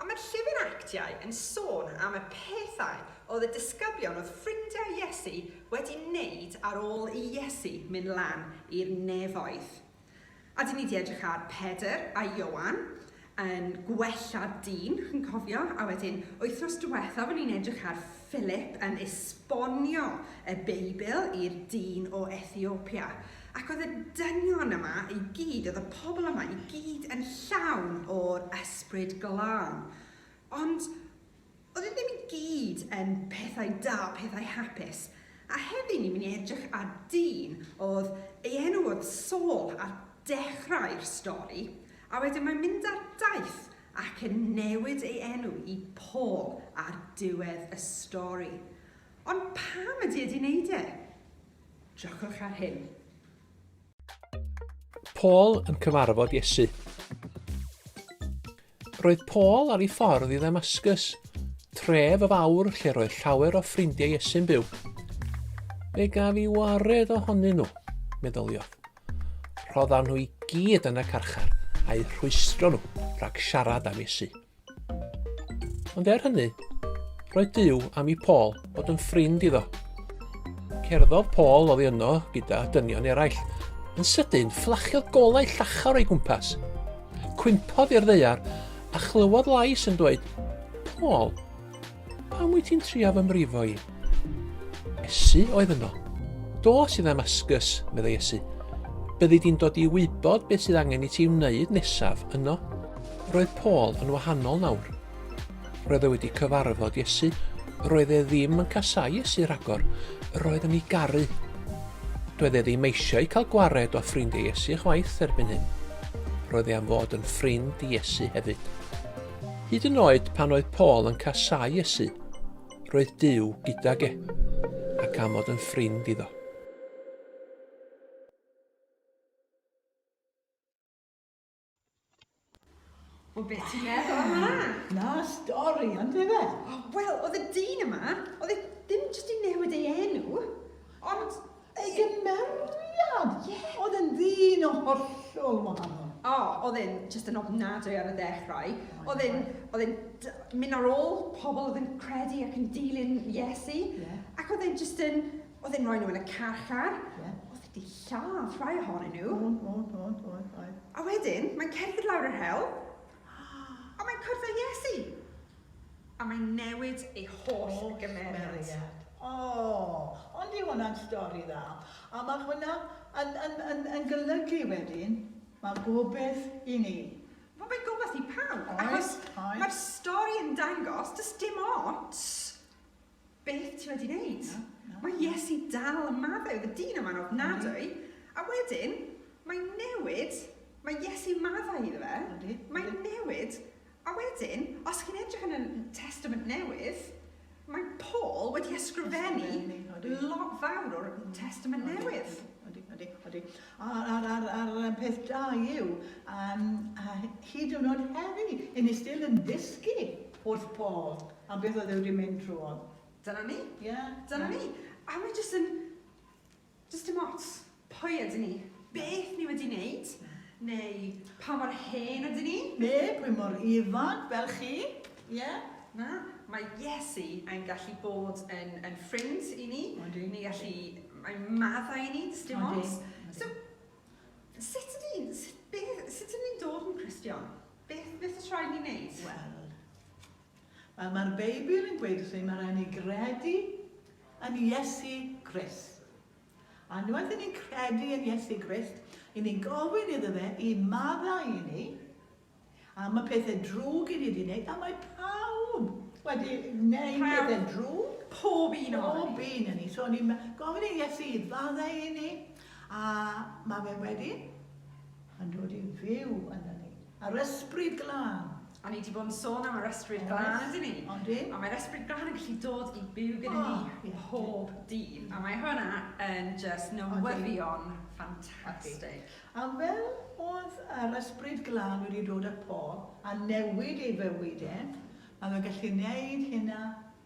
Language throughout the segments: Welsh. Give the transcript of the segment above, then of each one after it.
A mae'r llyfr Actiau yn sôn am y pethau oedd y disgyblion oedd ffrindiau Iesu wedi wneud ar ôl i Iesu mynd lan i'r nefoedd. A dyn ni wedi edrych ar Pedr a Ioan yn gwella dyn, chi'n cofio? A wedyn, wythnos diwethaf o'n ni'n edrych ar Philip yn esbonio y Beibl i'r dyn o Ethiopia, ac oedd y dynion yma i gyd, oedd y pobl yma i gyd yn llawn o'r Ysbryd Glân. Ond oedd e ddim i gyd yn pethau da, pethau hapus. A heddi ni'n mynd i edrych ar dyn oedd ei enw oedd Saul ar dechrau'r stori, a wedyn mae'n mynd ar daith ac yn newid ei enw i Paul ar diwedd y stori. Ond pam ydy e 'di neud e? Jocwch ar hyn. Paul yn cyfarfod Iesu. Roedd Paul ar ei ffordd i Ddamascus, tref y fawr lle roedd llawer o ffrindiau Iesu'n byw. Fe gaf i wared ohonyn nhw, meddyliodd. Rhoddawn nhw i gyd yn y carchar a'u rhwystro nhw rhag siarad am Iesu. Ond er hynny, roedd Dyw am i Paul fod yn ffrind iddo. Cerddodd Paul oddi yno gyda dynion eraill. Yn sydyn, fflachiodd golau llachar o'i gwmpas. Cwympodd i'r ddeiar a chlywodd lais yn dweud, Paul, Pam wyt ti'n trio fy mrifo i? Esu oedd yno. Do sydd Ddamascus, meddai Esu. Byddi di'n dod i wybod beth sydd angen i ti wneud nesaf yno. Roedd Paul yn wahanol nawr. Roedd e wedi cyfarfod Iesu. Roedd e ddim yn casau Iesu rhagor. Roedd yn ei garu. Doedd e ddim eisiau cael gwared o ffrindiau Iesu chwaith erbyn hyn. Roedd e am fod yn ffrind i Iesu hefyd. Hyd yn oed pan oedd Paul yn casáu Iesu, roedd Duw gydag e, ac am fod yn ffrind iddo. O beth ti'n meddwl am hwnna? Na stori, ond efe? O, wel, oedd y dyn yma, oedd e ddim jyst i newid ei enw, ond Ei gymeriad! Ie! Oedd e'n ddyn o hollol wahanol. O, oedd e'n jyst yn ofnadwy ar y dechrau. Oh oedd e'n, oedd e'n mynd ar ôl pobl oedd yn credu ac yn dilyn Iesu. Yeah. Ac oedd e'n jyst yn, oedd e'n rhoi nhw yn y carchar. Yeah. Oedd wedi lladd rhai ohonyn nhw. Oedd, oedd, oedd, oedd. A wedyn, mae'n cerdded lawr yr hewl, Ond mae'n cwrdd â Iesu! A mae'n newid ei holl gymeriad. O! Ond yw hwnna'n stori dda? A mae hwnna yn, yn, yn, yn golygu wedyn, mae gobaith i ni. Wel, mae gobaith i pawb. Oes, oes. Achos mae'r stori yn dangos, does dim ots Beth ti wedi wneud? Na, na. Mae Iesu dal yn maddau, oedd y dyn yma'n ofnadwy. A wedyn, mae'n newid, mae Iesu maddau iddo fe, Ydy. mae'n newid, a wedyn, os chi'n edrych yn y Testament Newydd, mae Paul wedi ysgrifennu Ysgrifennu, odi. lot fawr o'r Testament Newydd. Ydy, ydy, ydy. A'r ar, ar, ar, ar peth da yw, um, a hyd yn oed heddi, hyn ni still yn dysgu wrth Paul. A beth oedd e wedi mynd drwodd? Dyna ni. Ie. Dyna ni. A mae jyst yn, jyst dim ots pwy ydyn ni, beth ni wedi wneud, neu pa mor hen ydyn ni. Neu pwy mor ifanc fel chi. Ie. Na, mae Iesu yn gallu bod yn, yn ffrind i ni. Odi. Ni'n gallu, mae'n maddau i ni, does dim ots. Odi. So, sut ydyn ni'n, sut, beth, sut ydyn ni'n dod yn Cristion? Beth, beth oes rhaid ni wneud? Wel, Wel, mae'r Beibl yn gweud wrthyn ni mae rhaid ni gredu yn Iesu Grist. A unwaith i ni'n credu yn Iesu Grist, i ni'n gofyn iddo fe i maddau i ni am y pethau drwg i ni wedi gwneud, a mae pawb wedi gwneud pethau drwg. Pob un o ni. Pob un o ni. So, ni'n gofyn i Iesu i faddau i ni, a mae fe wedyn yn dod i fyw yna ni. Yr Ysbryd Glân. A ni 'di bod yn sôn am yr Ysbryd Glân, yndyn ni? Oes, yndi. A mae'r Ysbryd Glân yn gallu dod i byw gyda ni... O, ie. ...pob dydd. A mae hwnna yn jyst newyddion ffantastig. A fel oedd yr Ysbryd Glân wedi dod â Paul a newid ei fywyd e, mae fe'n gallu neud hynna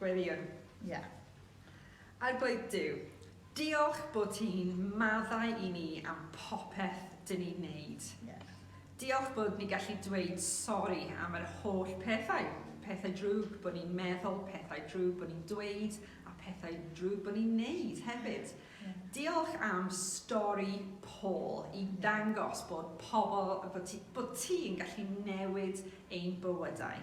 Gwirion, ie. Arglwydd Duw, diolch bod ti'n maddau i ni am popeth dyn ni'n neud. Ie. Diolch bod ni'n gallu dweud sori am yr holl pethau, pethau drwg bod ni'n meddwl, pethau drwg bod ni'n dweud a pethau drwg bod ni'n neud hefyd. Ie. Diolch am stori Paul i ddangos bod pobl, bod ti, bod ti'n gallu newid ein bywydau.